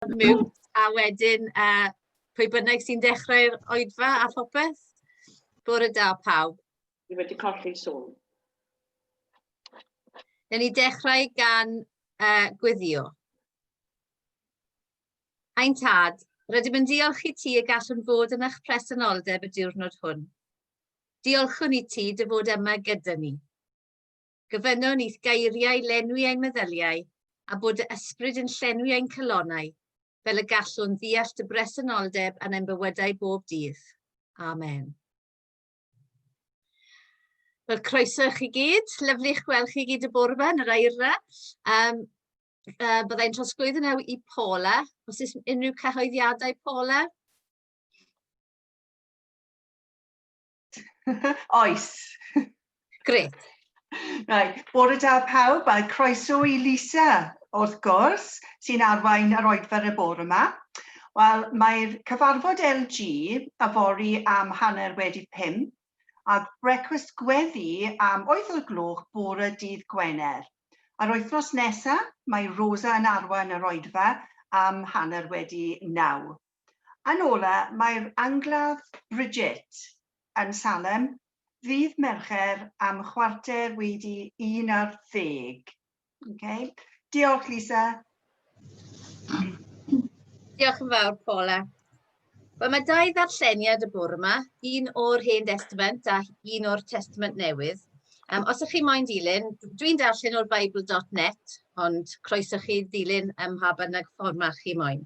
mute a wedyn yy pwy bynnag sy'n dechrau'r oedfa a phopeth. Bore da pawb. Ni wedi colli sŵn. Newn ni dechrau gan uh, gweddio. Ein tad, rydym yn diolch i ti y gallwn fod yn eich presenoldeb y diwrnod hwn. Diolchwn i ti dy fod yma gyda ni. Gofynno nith geiriau lenwi ein meddyliau, a bod dy ysbryd yn llenwi ein calonnau, fel y gallwn ddeall dy bresenoldeb yn ein bywydau bob dydd. Amen. Wel, croeso i chi gyd. Lyflu eich gweld chi gyd y bore yma yn yr aira. Um, uh, byddai'n trosglwyd yn ew i Paula. Os oes unrhyw cyhoeddiadau, Paula? Oes. Gret. Right. Bore da pawb a croeso i Lisa, wrth gwrs, sy'n arwain yr oedfer y bore yma. Wel, mae'r cyfarfod LG a fori am hanner wedi pum, a brecwast gweddi am oeth o'r gloch bore dydd Gwener. A'r wythnos nesaf, mae Rosa yn arwain yr oedfa am hanner wedi naw. Yn ola, mae'r angladd Bridget yn Salem ddydd Mercher am chwarter wedi un ar ddeg. Oce. Diolch, Lisa. Diolch yn fawr, Paula. Wel, mae dau ddarlleniad y bwrw yma, un o'r Hen Testament a un o'r Testament Newydd. Um, os ych chi moyn dilyn, dwi'n darllen o'r Bible.net, ond croeso chi ddilyn ym mha bynnag fformat chi moyn.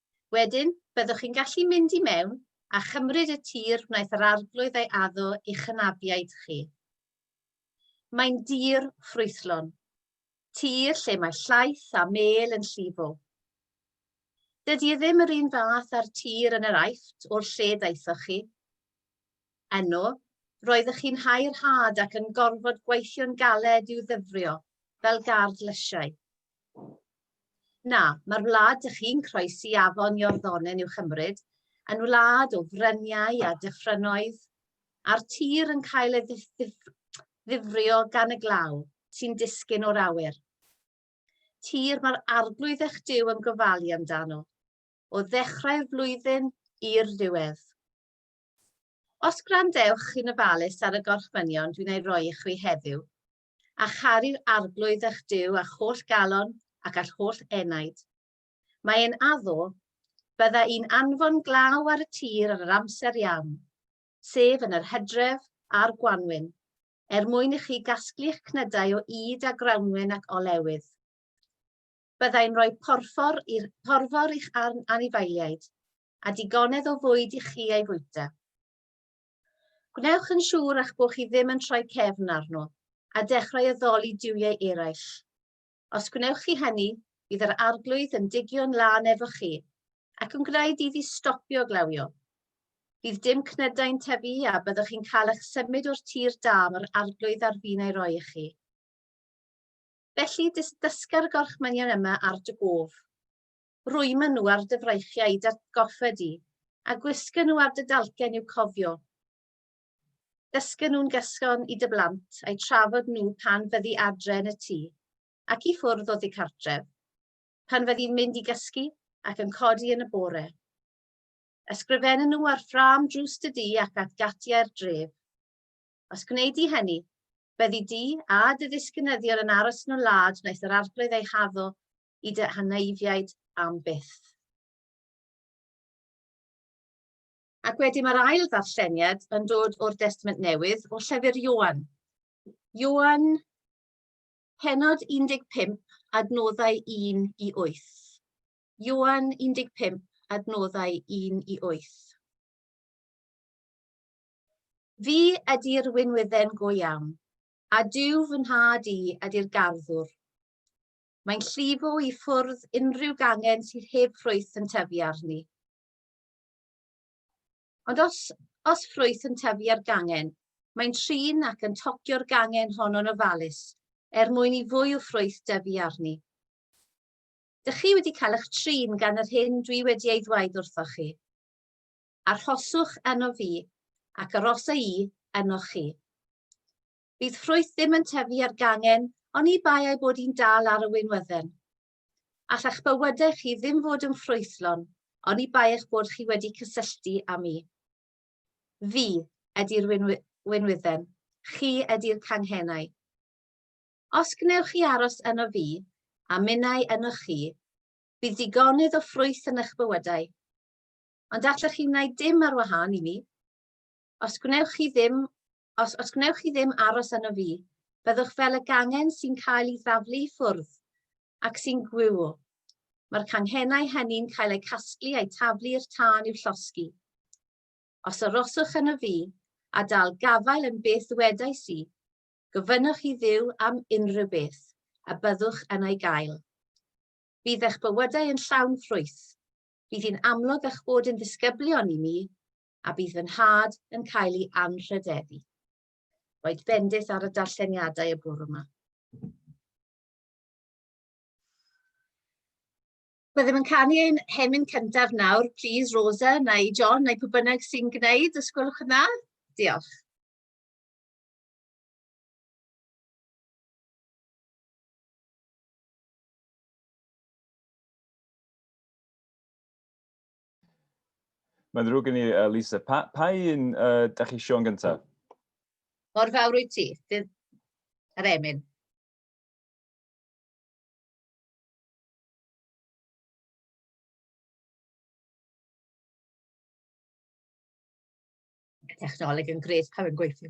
Wedyn, byddwch chi'n gallu mynd i mewn a chymryd y tir wnaeth yr Arglwydd ei addo i'ch hynafiaid chi. Mae'n dir ffrwythlon, tir lle mae llaeth a mêl yn llifo. Dydy e ddim yr un fath â'r tir yn yr Aifft o'r lle daethoch chi. Yno, roeddech chi'n hau'r had ac yn gorfod gweithio'n galed i'w ddyfrio fel gard lysiau. Na, mae'r wlad dych chi'n croesi afon Iorddonen i'w chymryd yn wlad o fryniau a dyffrynnoedd, a'r tir yn cael ei ddifrio gan y glaw sy'n disgyn o'r awyr. Tir mae'r arglwydd eich Duw yn gofalu amdano, o ddechrau'r flwyddyn i'r diwedd. Os gwrandewch chi'n ofalus ar y gorchmynion dwi'n ei roi i chwi heddiw, a charu'r Arglwydd eich Duw â'ch holl galon ac â'ch holl enaid. Mae e'n addo, bydda i'n anfon glaw ar y tir yn yr amser iawn, sef yn yr hydref a'r gwanwyn, er mwyn i chi gasglu'ch cnydau o ŷd a grawnwyn ac olewydd. Byddai'n rhoi porfor, i'r, porfor i'ch anifeiliaid, a digonedd o fwyd i chi ei fwyta. Gwnewch yn siŵr eich bod chi ddim yn troi cefn arno a dechrau addoli duwiau eraill. Os gwnewch chi hynny, bydd yr arglwydd yn digio'n lân efo chi ac yn gwneud iddi stopio glawio. Bydd dim cnydau'n tyfu a byddwch chi'n cael eich symud o'r tir da mae'r arglwydd ar fin ei roi i chi. Felly, dysga'r gorchmynion yma ar dy gof. Rwymo nhw ar dy fraichiau i d'atgoffa di, a gwisga nhw ar dy dalcen i'w cofio. Dysga nhw'n gyson i dy blant, a'i trafod nhw pan fyddi adre yn y tŷ, ac i ffwrdd o ddi cartref, pan fyddi'n mynd i gysgu ac yn codi yn y bore. Ysgrifenna nhw ar ffrâm drws dy dŷ ac at gatiau'r dref. Os gwneud di hynny, byddi di a dy ddisgynyddion yn aros yn y wlad wnaeth yr Arglwydd ei haddo i dy hanaefiaid am byth. Ac wedyn mae'r ail ddarlleniad yn dod o'r Destament Newydd, o llyfr Ioan. Ioan, penod 15, adnoddau 1 i 8. Ioan 15, adnoddau 1 i 8. Fi ydy'r winwydden go iawn, a dyw fy nhad i ydy'r garddwr. Mae'n llifo i ffwrdd unrhyw gangen sydd heb ffrwyth yn tyfu arni. Ond os, os ffrwyth yn tyfu ar gangen, mae'n trin ac yn tocio'r gangen hon yn ofalus, er mwyn i fwy o ffrwyth dyfu arni. Dych chi wedi cael eich trin gan yr hyn dwi wedi ei ddweud wrthoch chi. Arhoswch yno fi, ac arosa i yno chi. Bydd ffrwyth ddim yn tyfu ar gangen, ond i bai ei bod hi'n dal ar y wynwydden. Alla'ch bywydau chi ddim fod yn ffrwythlon, ond i bai eich bod chi wedi cysylltu â mi. Fi ydy'r wynwydden, chi ydy'r canghennau. Os gwnewch chi aros yno fi, a minnau yno chi, bydd digonydd o ffrwyth yn eich bywydau. Ond allwch chi wneud dim ar wahân i mi. Os gwnewch chi ddim Os, os gwnewch chi ddim aros yno fi, byddwch fel y gangen sy'n cael ei ddaflu i ffwrdd, ac sy'n gwyw. Mae'r canghenau hynny'n cael eu casglu a'u taflu i'r tân i'w llosgi. Os aroswch yno fi, a dal gafael yn beth ddwedais i, gofynnwch i Dduw am unrhyw beth, a byddwch yn ei gael. Bydd eich bywydau yn llawn ffrwyth. Bydd hi'n amlwg eich bod yn ddisgyblion i mi, a bydd fy nhad yn cael ei anrhydeddu. Roedd bendith ar y darlleniadau y bwrw yma. Byddem yn canu ein hemyn cyntaf nawr. Please, Rosa, neu John, neu pwy bynnag sy'n gwneud, os gwelwch yn dda. Diolch. Mae'n ddrwg gen i, uh, Lisa. Pa, pa un uh, da chi Siôn gyntaf? Mor fawr wyt ti. Dydd... Yr emyn. Technoleg yn gret pan yn gweithio.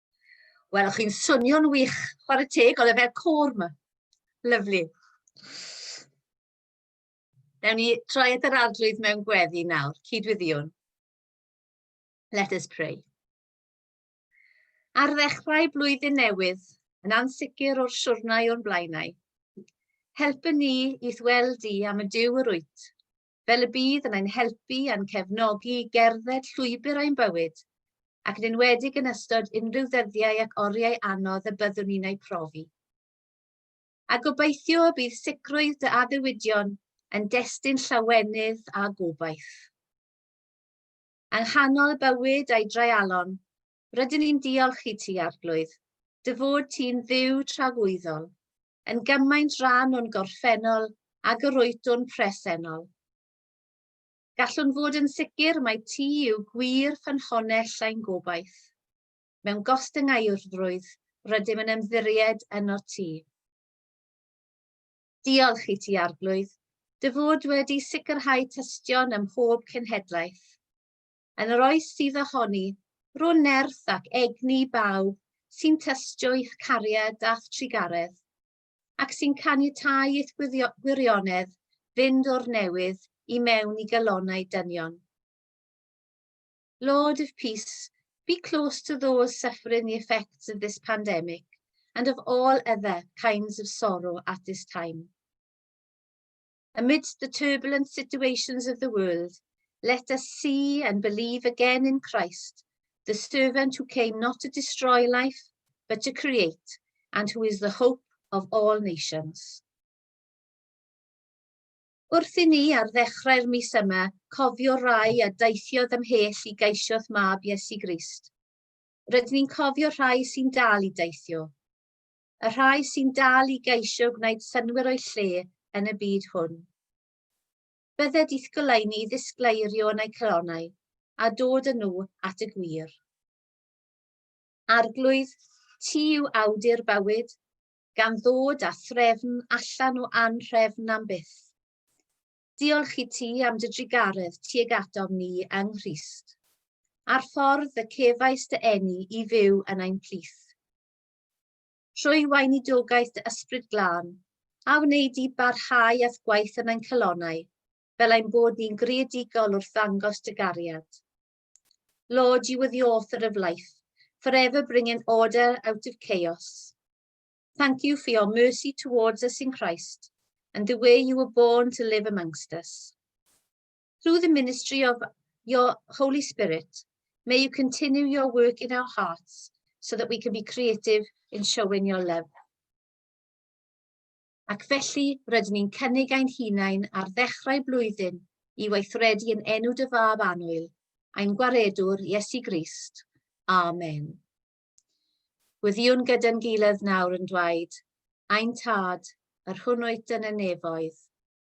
Wel, o'ch chi'n swnio'n wych, chwarae teg, oedd e fel côr ma. Lyflu. Dewn ni troi at yr arglwydd mewn gweddi nawr, cydwyddiwn. Let us pray. Ar ddechrau blwyddyn newydd, yn ansicr o'r siwrnau o'n blaenau, helpu ni i ddweld di am y diw yr wyt, fel y bydd yn ein helpu a'n cefnogi i gerdded llwybr ein bywyd, ac yn enwedig yn ystod unrhyw ddyddiau ac oriau anodd y byddwn ni'n eu profi. A gobeithio y bydd sicrwydd dy addewidion yn destun llawenydd a gobaith. Yng nghanol y bywyd a'i dreialon, Rydyn ni'n diolch i ti, Arglwydd, dy fod ti'n dduw tragwyddol, yn gymaint rhan o'n gorffennol ag yr oedwn presennol. Gallwn fod yn sicr mae ti yw gwir ffynhonell ein gobaith. Mewn gostyngaurfrwydd, rydym yn ymddiried yno ti. Diolch i ti, Arglwydd, dy fod wedi sicrhau tystion ym mhob cenhedlaeth. yn yr oes sydd ohoni, rhw'n nerth ac egni bawb sy'n tystio i'ch cariad a'ch trugaredd, ac sy'n caniatáu i'th gwirionedd fynd o'r newydd i mewn i galonau dynion. Lord of Peace, be close to those suffering the effects of this pandemic and of all other kinds of sorrow at this time. Amidst the turbulent situations of the world, let us see and believe again in Christ, the servant who came not to destroy life, but to create, and who is the hope of all nations. Wrth i ni ar ddechrau'r mis yma cofio rai a daethiodd ymhell i geisio'th mab Iesu Grist, rydyn ni'n cofio rhai sy'n dal i deithio. y rhai sy'n dal i geisio gwneud synnwyr o'u lle yn y byd hwn. Bydde dith goleuni ddisgleirio yn eu calonau a dod â nhw at y gwir. Arglwydd, ti yw awdur bywyd, gan ddod â threfn allan o anrhefn am byth. Diolch i ti am dy drugaredd tuag atom ni yng Nghrist, a'r ffordd y cefais dy eni i fyw yn ein plith. trwy weinidogaeth dy Ysbryd Glân, a wneud di barhau â'th gwaith yn ein calonnau, fel ein bod ni'n greadigol wrth ddangos dy gariad. Lord, you were the author of life, forever bringing order out of chaos. Thank you for your mercy towards us in Christ, and the way you were born to live amongst us. Through the ministry of your Holy Spirit, may you continue your work in our hearts so that we can be creative in showing your love. Ac felly, rydyn ni'n cynnig ein hunain ar ddechrau blwyddyn i weithredu yn enw dy fab anwyl, ein gwaredwr Iesu Grist. Amen. Gwyddiwn gyda'n gilydd nawr yn dweud, Ein Tad, yr hwn oed yn y nefoedd,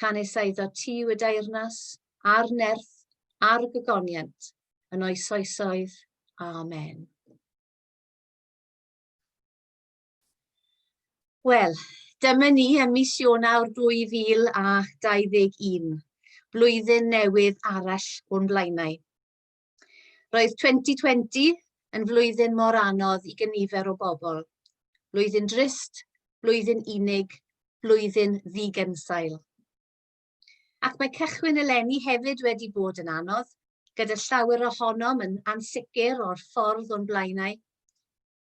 canys a iddo ti yw y deyrnas, a'r nerth, a'r gygoniant, yn oes oesoedd. Amen. Wel, dyma ni ym mis Ionawr 2021, blwyddyn newydd arall o'n blaenau. Roedd 2020 yn flwyddyn mor anodd i gynifer o bobl. Blwyddyn drist, blwyddyn unig, blwyddyn ddigensail. Ac mae cychwyn eleni hefyd wedi bod yn anodd, gyda llawer ohonom yn ansicr o'r ffordd o'n blaenau.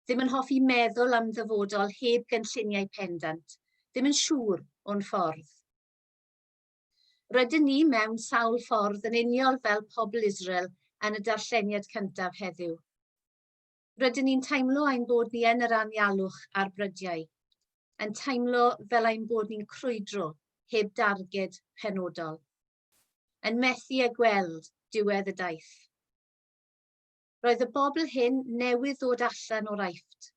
Ddim yn hoffi meddwl am ddyfodol heb gynlluniau pendant, ddim yn siŵr o'n ffordd. Rydyn ni mewn sawl ffordd yn uniol fel pobl Israel yn y darlleniad cyntaf heddiw. Rydyn ni'n teimlo ein bod ni yn yr anialwch a'r brydiau, yn teimlo fel ein bod ni'n crwydro heb darged penodol, yn methu â gweld diwedd y daith. Roedd y bobl hyn newydd ddod allan o'r Aifft,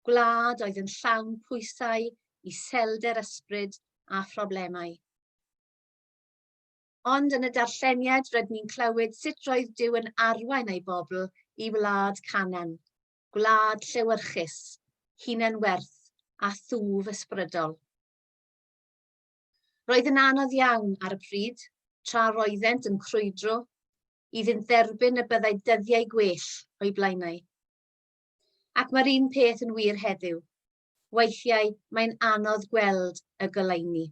gwlad oedd yn llawn pwysau, iselder ysbryd a phroblemau. Ond yn y darlleniad rydyn ni'n clywed sut roedd Dyw yn arwain ei bobl i wlad Canan, gwlad llewyrchus, hunan werth a thwf ysbrydol. Roedd yn anodd iawn ar y pryd, tra roeddent yn crwydro, iddynt dderbyn y byddai dyddiau gwell o'i blaenau. Ac mae'r un peth yn wir heddiw. Weithiau mae'n anodd gweld y goleuni.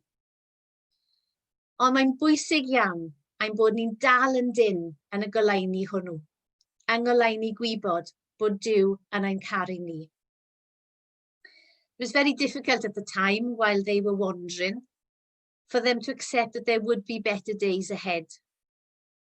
Ond mae'n bwysig iawn ein bod ni'n dal yn dyn yn y goleuni hwnnw, yng ngoleuni gwybod bod Dyw yn ein caru ni. It was very difficult at the time while they were wandering for them to accept that there would be better days ahead.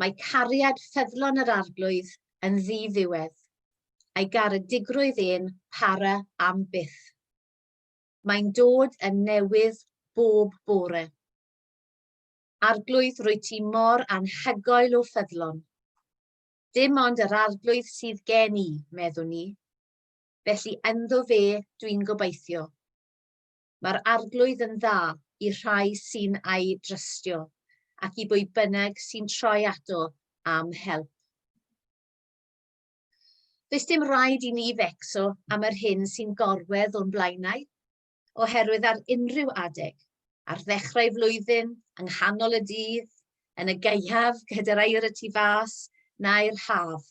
Mae cariad ffyddlon yr Arglwydd yn ddi-ddiwedd, a'i garedigrwydd ên para am byth. Mae'n dod yn newydd bob bore. Arglwydd, rwy ti mor anhygoel o ffyddlon. Dim ond yr Arglwydd sydd gen i, meddwn i. Felly ynddo fe dwi'n gobeithio. Mae'r Arglwydd yn dda i rhai sy'n a'i drystio, ac i bwy bynnag sy'n troi ato am help. Does dim rhaid i ni fecso am yr hyn sy'n gorwedd o'n blaenau, oherwydd ar unrhyw adeg, ar ddechrau flwyddyn, yng nghanol y dydd, yn y gaeaf gyda'r air y tu fas, nau'r haf,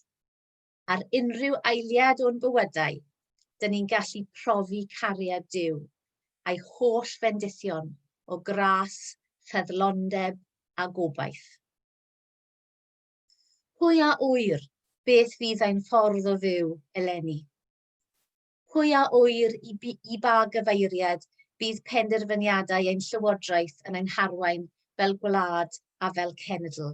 ar unrhyw eiliad o'n bywydau, dyn ni'n gallu profi cariad Duw, a'i holl fendithion o gras, ffeddlondeb a gobaith. Pwy a ŵyr beth fydd ein ffordd o fyw eleni? Pwy a ŵyr i, i ba gyfeiriad bydd penderfyniadau ein llywodraeth yn ein harwain fel gwlad a fel cenedl?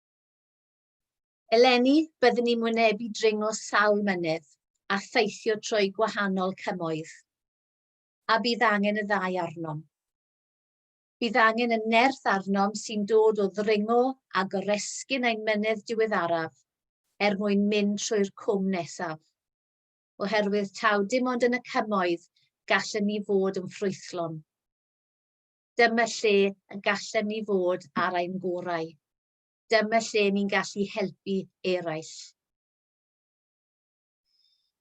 Eleni, byddwn ni'n wynebu dringo sawl mynydd a theithio trwy gwahanol cymoedd, a bydd angen y ddau arnom. Bydd angen y nerth arnom sy'n dod o ddringo a goresgyn ein mynydd diweddaraf er mwyn mynd trwy'r cwm nesaf. Oherwydd taw dim ond yn y cymoedd gallwn ni fod yn ffrwythlon. Dyma lle y gallem ni fod ar ein gorau. Dyma lle ni'n gallu helpu eraill.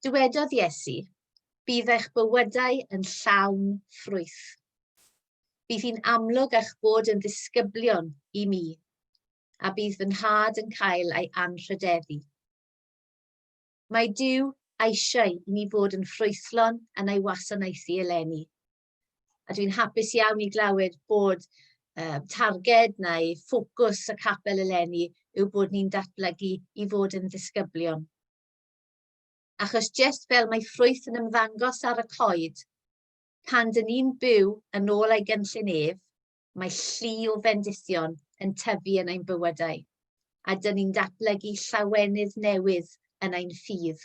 Dywedodd Iesu, bydd eich bywydau yn llawn ffrwyth. Bydd hi'n amlwg eich bod yn ddisgyblion i mi, a bydd fy nhad yn cael ei anrhydeddu. Mae Dyw eisiau i ni fod yn ffrwythlon yn ei wasanaethu eleni. A dwi'n hapus iawn i glywed bod um, targed neu ffocws y capel eleni yw bod ni'n datblygu i fod yn ddisgyblion. Achos jyst fel mae ffrwyth yn ymddangos ar y coed, pan dyn ni'n byw yn ôl ei gynllun ef, mae llu o fendithion yn tyfu yn ein bywydau, a dyn ni'n datblygu llawenydd newydd yn ein ffydd.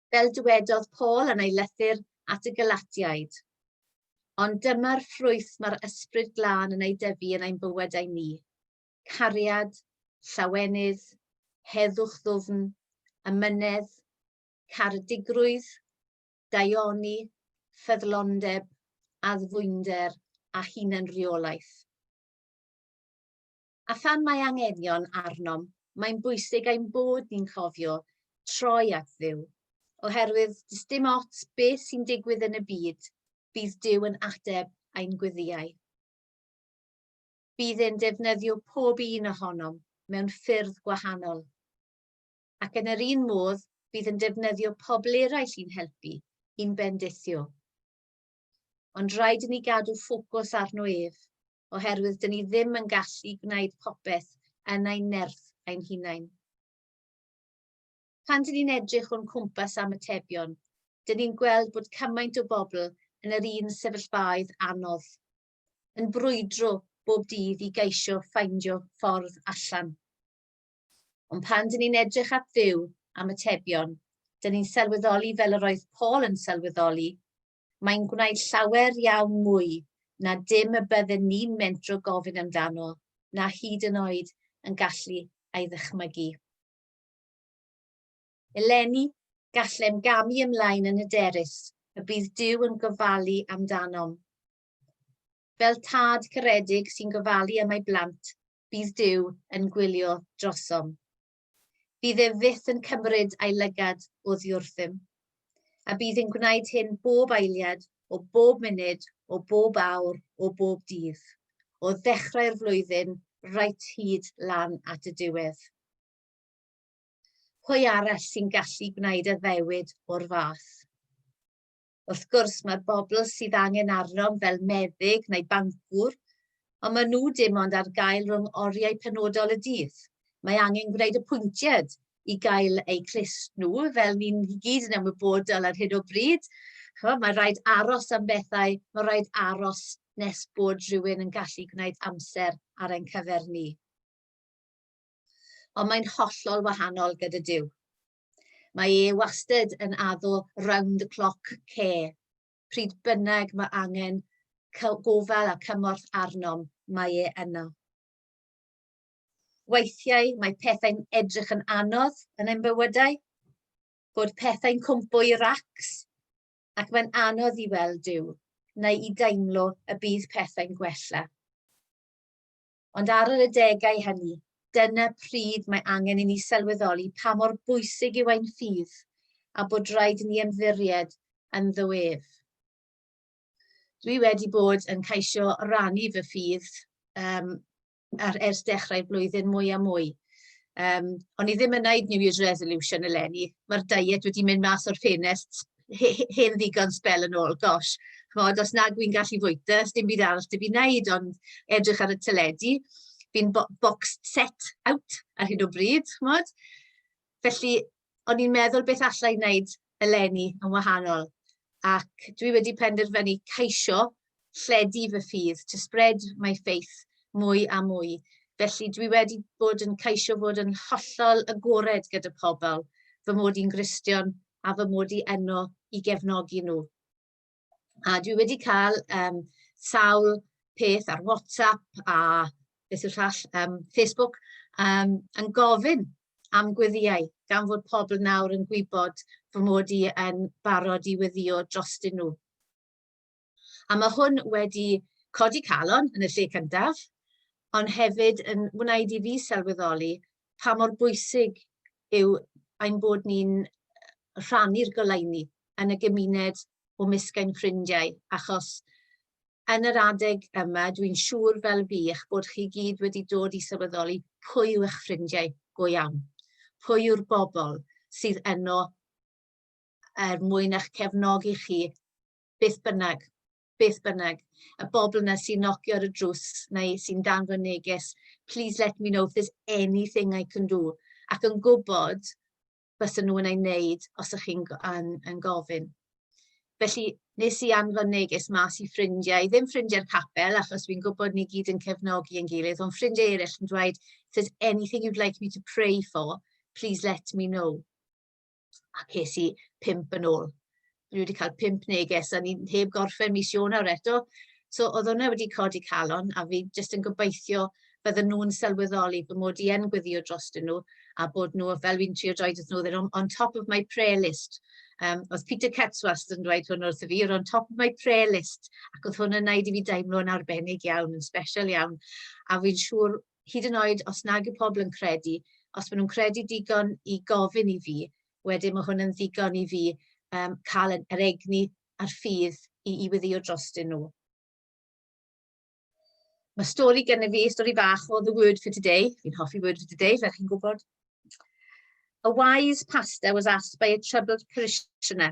fel dywedodd Paul yn ei lythyr at y Galatiaid. Ond dyma'r ffrwyth mae'r ysbryd glân yn ei dyfu yn ein bywydau ni. Cariad, llawenydd, heddwch ddwfn, ymynedd, caredigrwydd, daioni, ffyddlondeb, addfwynder a hunanreolaeth. a phan mae anghenion arnom, mae'n bwysig ein bod ni'n cofio troi at ddiw, oherwydd dys dim ots beth sy'n digwydd yn y byd, bydd Dyw yn ateb ein gwyddiau. Bydd e'n defnyddio pob un ohonom mewn ffyrdd gwahanol. Ac yn yr un modd, bydd yn defnyddio pobl eraill i'n helpu, i'n bendithio. Ond rhaid i ni gadw ffocws arno ef, oherwydd dyn ni ddim yn gallu gwneud popeth yn ein nerth ein hunain. Pan dyn ni'n edrych o'n cwmpas am atebion, dyn ni'n gweld bod cymaint o bobl yn yr un sefyllfaoedd anodd, yn brwydro bob dydd i geisio ffeindio ffordd allan. Ond pan dyn ni'n edrych at ddiw am atebion, dyn ni'n sylweddoli fel yr oedd Paul yn sylweddoli, mae'n gwneud llawer iawn mwy na dim y bydden ni'n mentro gofyn amdano, na hyd yn oed yn gallu ei ddychmygu. Eleni, gallem gamu ymlaen yn hyderus y bydd Duw yn gofalu amdanom. Fel tad caredig sy'n gofalu am ei blant, bydd Duw yn gwylio drosom. Bydd ef fyth yn cymryd ei lygad oddi wrthym, a bydd yn gwneud hyn bob eiliad, o bob munud, o bob awr, o bob dydd, o ddechrau'r flwyddyn reit hyd lan at y diwedd. Pwy arall sy'n gallu gwneud addewid o'r fath? Wrth gwrs, mae'r bobl sydd angen arnom fel meddyg neu bancwr, ond maen nhw dim ond ar gael rhwng oriau penodol y dydd. Mae angen gwneud apwyntiad i gael eu clust nhw, fel ni'n i gyd yn ymwybodol ar hyn o bryd. Chymod, mae rhaid aros am bethau, mae rhaid aros nes bod rhywun yn gallu gwneud amser ar ein cyfer ni. Ond mae'n hollol wahanol gyda Dyw. Mae e wastad yn addo round the clock care. Pryd bynnag mae angen gofal a cymorth arnom, mae e yno. Weithiau mae pethau'n edrych yn anodd yn ein bywydau, bod pethau'n cwmpo i racs ac mae'n anodd i weld Duw neu i deimlo y bydd pethau'n gwella. ond ar yr adegau hynny, dyna pryd mae angen i ni sylweddoli pa mor bwysig yw ein ffydd a bod rhaid i ni ymddiried yn ddoef. Dwi wedi bod yn caisio rannu fy ffydd um, ar ers dechrau'r blwyddyn mwy a mwy. Um, o'n i ddim yn wneud New Year's Resolution eleni. Mae'r diet wedi mynd mas o'r ffenest he- he- hen ddigon sbel yn ôl, gosh, chimod, os nag wy'n gallu fwyta, sdim byd arall 'da fi wneud ond edrych ar y teledu. Fi'n bo- boxed set out ar hyn o bryd, chimod. Felly, o'n i'n meddwl beth alla i wneud eleni yn wahanol, ac dwi wedi penderfynu ceisio lledu fy ffydd, to spread my faith, mwy a mwy. Felly dwi wedi bod yn caisio fod yn hollol agored gyda pobl, fy mod i'n Gristion a fy mod i enno i gefnogi nhw. A dwi wedi cael um, sawl peth ar WhatsApp a beth yw'r llall, um, Facebook, um, yn gofyn am gweddiau, gan fod pobl nawr yn gwybod fy mod i yn barod i weddio drostyn nhw. A mae hwn wedi codi calon yn y lle cyntaf, ond hefyd yn wneud i fi sylweddoli pa mor bwysig yw ein bod ni'n rhannu'r goleuni yn y gymuned o mysg ein ffrindiau, achos yn yr adeg yma, dwi'n siŵr fel fi, eich bod chi gyd wedi dod i sylweddoli pwy yw eich ffrindiau go iawn, pwy yw'r bobl sydd yno er mwyn eich cefnogi chi beth bynnag, beth bynnag. Y bobl yna sy'n nocio ar y drws neu sy'n danfod neges, please let me know if there's anything I can do. Ac yn gwybod bys nhw yn ei wneud os ych chi'n yn, yn gofyn. Felly, nes i anfon neges mas i ffrindiau, ddim ffrindiau'r capel, achos fi'n gwybod ni gyd yn cefnogi yn gilydd, ond ffrindiau eraill yn dweud, if there's anything you'd like me to pray for, please let me know. a ces i pimp yn ôl. Dwi wedi cael pimp neges, a ni'n heb gorffen mis Ionawr eto. So oedd hwnna wedi codi calon, a fi jyst yn gobeithio bydden nhw'n sylweddoli bod mod i yn gweddio drostyn nhw, a bod nhw, fel fi'n trio dweud wrthyn nhw, they're on, on top of my prayer list. Um, oedd Peter Ketz wastad yn dweud hwn wrth i fi, you're on top of my prayer list, ac oedd hwn yn neud i fi deimlo'n arbennig iawn, yn special iawn, a fi'n siŵr hyd yn oed os nag yw pobl yn credu, os maen nhw'n credu digon i gofyn i fi, wedyn mae hwn yn ddigon i fi um, cael yr egni a'r ffydd i, i weddio drostyn nhw. Mae stori gen i fi, stori bach o The Word for Today. Fi'n hoffi Word for Today, fel chi'n gwybod. A wise pastor was asked by a troubled parishioner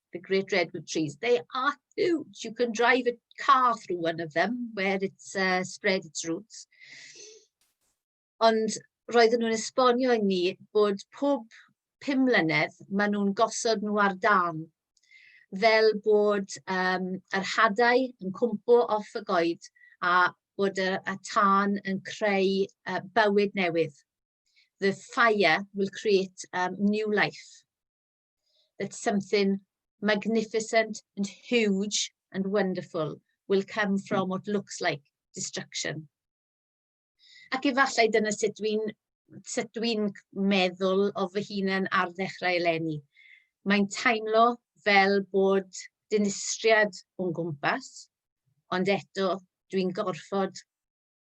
the great redwood trees, they are huge. You can drive a car through one of them where it's uh, spread its roots. Ond roedden nhw'n esbonio i ni bod pob pum mlynedd maen nhw'n gosod nhw ar dan fel bod um, yr hadau yn cwmpo off y goed a bod y, y tân yn creu uh, bywyd newydd. The fire will create um, new life. that something magnificent and huge and wonderful will come from what looks like destruction. Ac efallai dyna sut dwi'n sut dwi'n meddwl o fy hunan ar ddechrau eleni. Mae'n teimlo fel bod dinistriad o'n gwmpas, ond eto dwi'n gorfod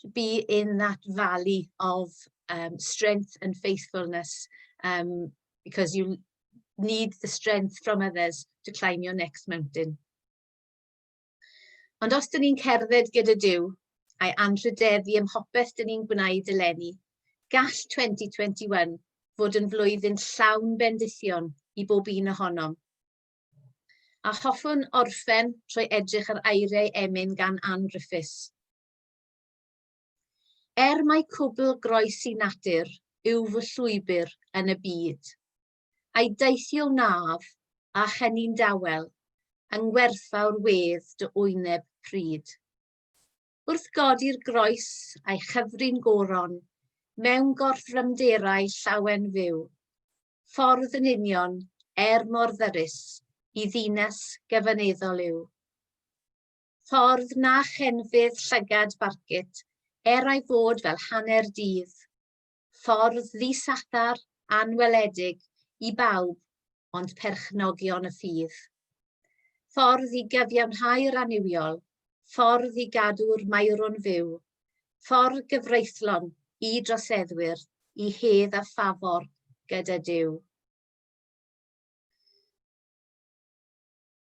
to be in that valley of um, strength and faithfulness um, because you need the strength from others to climb your next mountain. Ond os dyn ni'n cerdded gyda Dyw, a'i anrhydeddu ym mhopeth dyn ni'n gwneud eleni, gall 2021 fod yn flwyddyn llawn bendithion i bob un ohonom. A hoffwn orffen trwy edrych ar eiriau emyn gan Anne Griffiths, Er mai cwbl groes i natur yw fy llwybr yn y byd, a'i deithio wnaf a chenni'n dawel yng ngwerthfawr wedd dy wyneb pryd. Wrth godi'r groes a'i chyfrin goron mewn gorthrymderau llawen fyw, ffordd yn union er mor ddyrus i ddinas gefyneddol yw. ffordd na chenfydd llygad Barcit, er ei fod fel hanner dydd. Ffordd ddisadar, anweledig, i bawb, ond perchnogion y ffydd. Ffordd i gyfiawnhau'r annuwiol, ffordd i gadw'r maerw'n fyw, ffordd gyfreithlon i droseddwyr i hedd a ffafor gyda Dyw.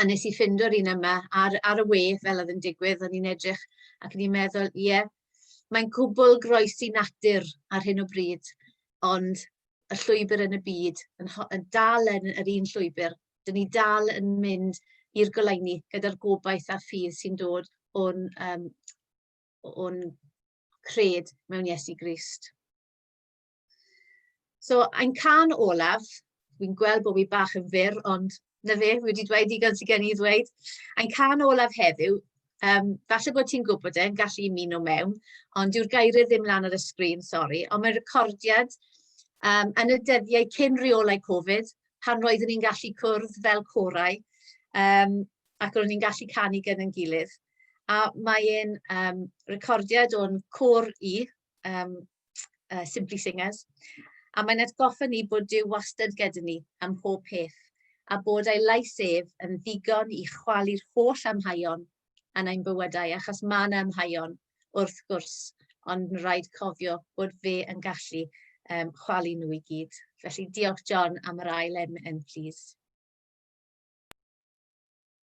a nes i ffind o'r un yma ar, ar y we fel oedd yn digwydd, o'n i'n edrych ac o'n i'n meddwl, ie, yeah, mae'n gwbl groes i natur ar hyn o bryd, ond y llwybr yn y byd yn, yn dal yn yr un llwybr. Dyn ni dal yn mynd i'r goleuni gyda'r gobaith a ffydd sy'n dod o'n, um, o'n cred mewn Iesu Grist. So, ein can olaf, fi'n gweld bod fi bach yn fyr, ond na fe, fi wedi dweud digon sydd gen i ddweud. Ein can olaf heddiw, um, falle bod ti'n gwybod e'n gallu i muno mewn, ond yw'r gairau ddim lan ar y sgrin, sori, ond mae'n recordiad um, yn y dyddiau cyn reolau Covid, pan roeddwn ni'n gallu cwrdd fel corau, um, ac roeddwn ni'n gallu canu gyda'n gilydd. A mae'n um, recordiad o'n cwr i, um, uh, Simply Singers, a mae'n atgoffa ni bod Dyw wastad gyda ni am pob peth, a bod ei lais ef yn ddigon i chwalu'r holl amhaion yn ein bywydau, achos mae yna amhaion, wrth gwrs, ond mae'n rhaid cofio bod fe yn gallu um, chwalu nhw i gyd. Felly diolch John am yr ail em yn plîs.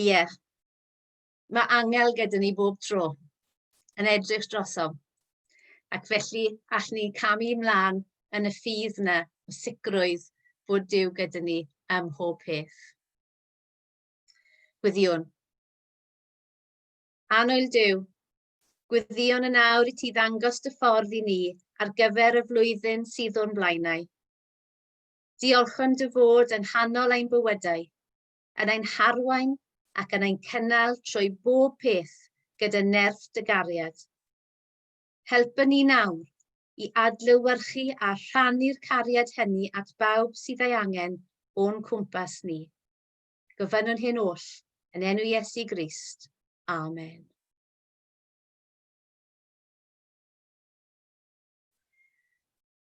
Ie. Mae angel gyda ni bob tro yn edrych drosom. Ac felly, all ni camu ymlaen yn y ffydd yna o sicrwydd bod Dyw gyda ni ym mhob peth. Gwyddion. Anoel Dyw, gwyddion yn awr i ti ddangos dy ffordd i ni ar gyfer y flwyddyn sydd o'n blaenau. Diolch am dy fod yng nghanol ein bywydau, yn ein harwain ac yn ein cynnal trwy bob peth gyda nerth dy gariad. Helpa ni nawr i adlewyrchu a rhannu'r cariad hynny at bawb sydd ei angen o'n cwmpas ni. Gofynnwn hyn oll yn enw Iesu Grist. Amen.